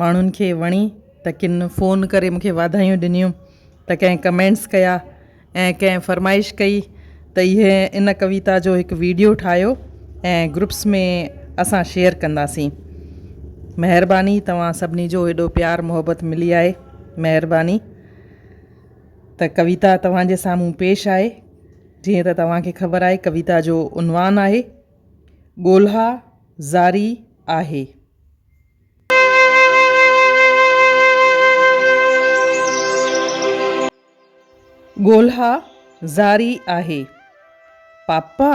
ماڻهن کي وڻي ته ڪن فون ڪري مون کي واڌايون ڏنيون ته ڪنهن ڪمينٽس ڪيا ۽ ڪنهن فرمائش ڪئي ته اهي ان ڪويتا جو هڪ ويڊيو ٺاهيو ۽ گروپس ۾ اسان شيئر ڪنداسين مهرباني توهان سڀني جو هيڏو پيار محبت ملي آهي مهرباني ته ڪويتا توهان جي سامهون پيش آهي جيئن ته توهان کي خبر آهي ڪويتا جو عنوان آهي ڳولها زاري آهي ڳولها جاري آهي. پاپا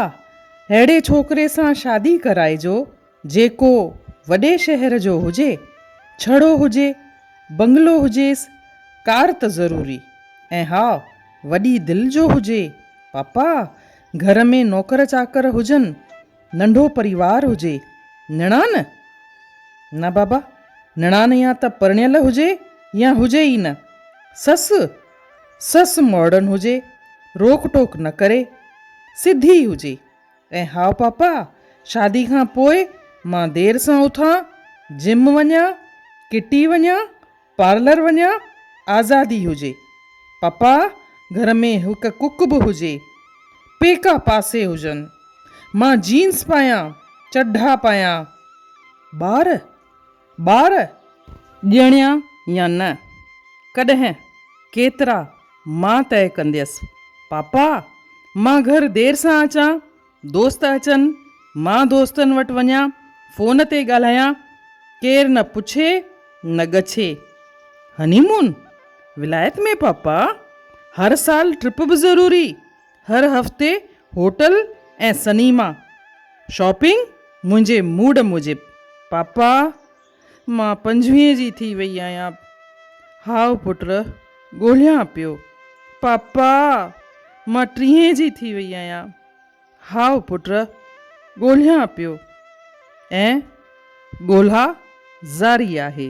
اهڙي ڇوڪري سان شادي ڪرائجو جيڪو وڏي شهر جو هجي، ڇڙو هجي، بنگلو هجيس، ڪار ته ضروري ۽ ها وڏي دل جو هجي، پاپا گهر ۾ نوڪر چاڪر هجن. ننڍو پريوار هجي، نڻان؟ نه بابا، نڻان يا ته پرڻيل هجي يا هجي ئي نه. سس؟ سس ماڊرن هجي، روڪ ٽوڪ نه ڪري، سڌي هجي. ۽ هاء پاپا، شادي کان پوء مان دير سان اٿان، جم وڃان، ڪٽي وڃان، پارلر وڃان، آزادي هجي. پپا، گهر ۾ هڪ ڪڪ به هجي. پيڪا پاسي هجن. مان جينز پايان، چڍا پايان. ٻار؟ ٻار؟ ڄڻيا يا نه؟ ڪڏهن؟ ڪيترا؟ مان طئي ڪنديس. پاپا، مان گهر دير سان اچان. دوست اچن، مان دوستن وٽ وڃان، فون تي ڳالهايان، ڪير نه پڇي نه ڳڇي. هني مون؟ ولايت ۾ پاپا! هر سال ٽرپ به ضروري، هر هفتي هوٽل ۽ سنيما. شاپنگ منهنجي موڊ موجب، پاپا! مان پنجويهين جي ٿي وئي آهيان. هاء پٽ ڳولهيان پيو. پاپا! مان ٽيهين جي ٿي وئي آهيان. هاء پٽ ڳولهيان پيو. ۽ ڳولها جاري آهي.